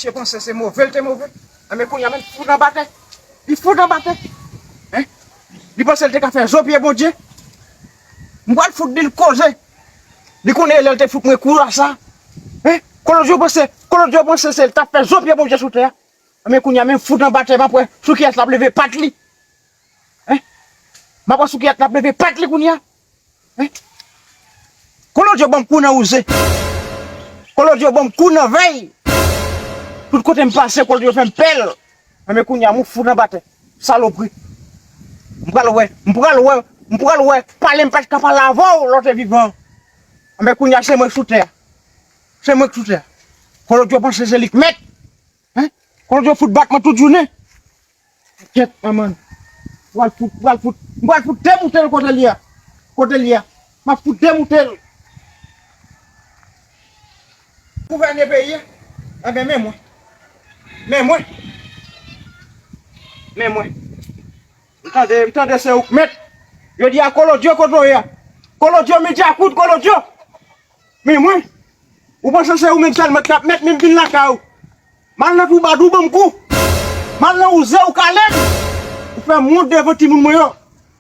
Msye panse se move l te move, enben kounye a menm li fout anba tè. Li fout anba tè. Li panse l te ka fè zo pye Bondye. M pral fout di l koze. Li konnen lèl te fout mwen kou a sa. Hein? Kolòt yo panse, kolòt yo panse se li tap fè zo pye Bondye sou tè a. Ebyen kounya menm fout anba tè map wè sou kiyès lap leve pat li. Hein? Map wè sou kiyès lap leve pat li kounya. Hein? Kolòt yo banm kou nan wouze. Kolòt yo banm kou nan vèy. Tout kotem pase kolòt yo fèm pèl. Ebyen kounya mou fout anba tè. Salopri. M pral wè, m pral wè, m pral wè, pale m pat ka pale avè w lè w te vivan. Anben kounye a se mwen k sou tè a. Se mwen k sou tè a. Kolodjo panse se li k mèt. Hein? Kolodjo fout bat mwen tout jounen. Kèt manman. M pral fout, m pral fout, m pral fout demoute l kote l ye a. Kote l ye a. M ap fout demoute l. Gouvène peyi a Enben men mwen Men mwen Men mwen M tande m tande se ou k mèt Yo di a kolodyo kot voye a Kolodyo mi dyakout kolodyo Men mwen Ou panse se ou menm sèlman k ap mèt men m vin lakay ou M al nan twoubadou ban m kou M al nan wouze ou kale m Ou fè m wont devan timoun mwen yo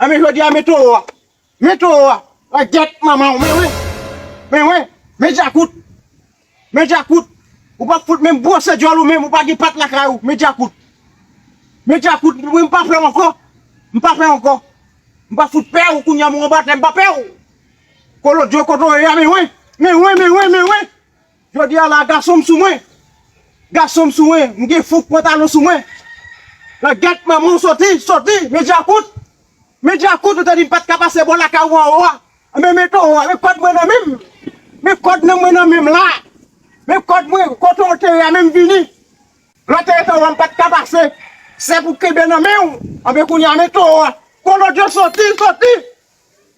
Enben jodi a men towo a Men towo a la gyèt manmanw men wen men wen men djakout men djakout ou pap fout menm bwose dyòl ou menm ou pa gen pat lakay ou men djakout men djakout mwen pa pèw ankò m pa pèw ankò m pa fout pèw kounya m anba tè m pa pèw kolodyo kote w ye a men wen men wen men wen men wen. Jodi a la gason m sou mwen Gason m sou mwen M gen fòk pantalon sou mwen Nan gèt manman w soti Soti Men djakout Men djakout ou te di m pat ka pase bò lakay ou anwo a Anben men towo a Men kòd mwen nan menm Men kòd nan mwen nan menm la Men kòd mwen Kote w te ye a menm vini Lè te ye towo a m pat ka pase Sè pou kenbe nan men w Anben kounye a men towo a Kolodjo soti Soti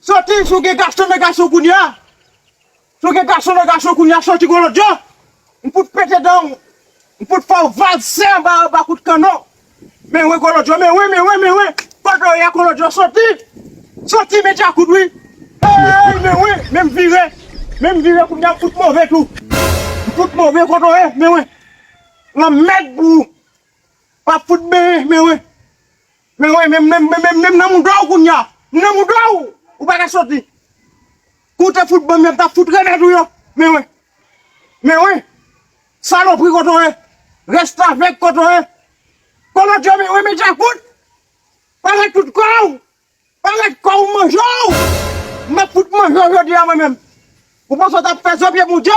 Soti si w gen gason men gason kounye a. Sou gen gason nan gason kounya soti golodjo m fout pete danw m fout fèw valse anba anba kout kanon men wen golodjo men wen men wen men wen kote w ye a golodjo soti soti men djakout wi eeyy men wen men m vire men m vire kounya m fout move tou m fout move kote w ye men wen lanmèd pou ou wap fout benyen men wen men wen men m nan mouda w kounya m nan mouda w ou paka soti. Kou te fout banm yo mtap fout remet ou yo men wen men wen salopri kote w ye restavek kote w ye kolodjè men wen men djakout pale tout kò w pale kò w manje w map fout manje w jodi a mwen menm ou panse w tap fè zo pye bondye.